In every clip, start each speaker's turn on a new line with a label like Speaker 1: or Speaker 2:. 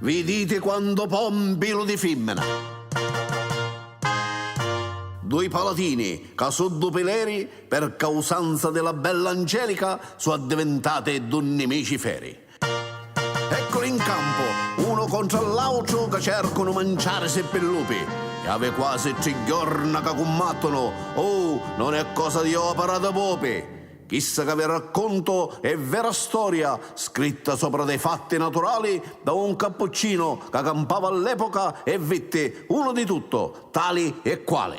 Speaker 1: Viditi quantu pompi lu di fimmina. Dui palatini ca su du pileri. Per causanza de la bella Angelica su addivintate du nimici feri. Ecculi 'n campu, unu contra l'autru ca cercunu manciarisi ppi lupi. E avi quasi tri jorna ca cummattunu, uh! non è cosa di opera de pupi! Chissa ca vi raccuntu è vera storia scritta sopra dei fatti naturali da un cappuccino ca campava all'epoca e vitti unu di tutto, tali e quali.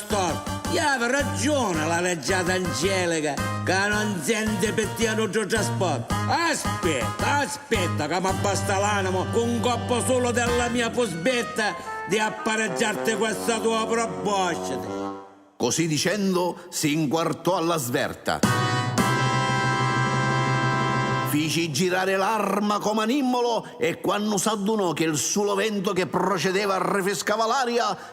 Speaker 2: Cor. Ia avi ragioni la reggiata Angelica ca non senti pi tia nuddu trasportu. Aspietta, aspietta ca m'abbasta l'animu cu un coppu sulu della mia fusbetta di appareggiarti questa tua probosciti. Così
Speaker 1: dicendo si inquartò alla sverta. Fici girare l'arma comu a nimmolo e quannu s'addunò che il sulo vento che procedeva rifriscava l'aria,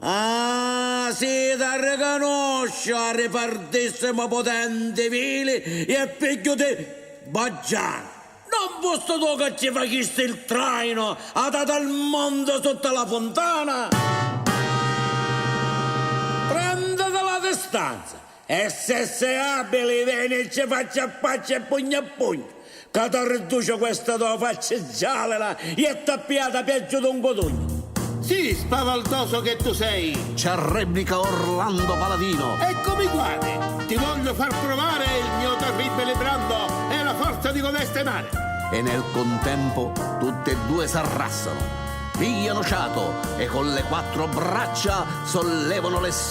Speaker 2: Ah, si t'arricanusciu, a ripartissimu putenti, vili e figghiu di Baggianu! Non fusti tu ca ci facisti il traino a tata il monte sutta la funtana? Prenditi la distanza! Essesse abili, veni e ci facci a facci e pugnu a pugnu, ca t'arridduciu questa tua facci gialila, jettu a piata piaggiu d'un cutugnu. Sì,
Speaker 3: spavaldoso che tu sei! Ci arrebbica
Speaker 1: Orlando Paladino. Ecco mi quati!
Speaker 3: Ti voglio far provare il mio terribili brando e la forza di codeste mani! E nel
Speaker 1: contempo tutti e due s'arrassano, pigliano ciato e con le quattro braccia sollevano le.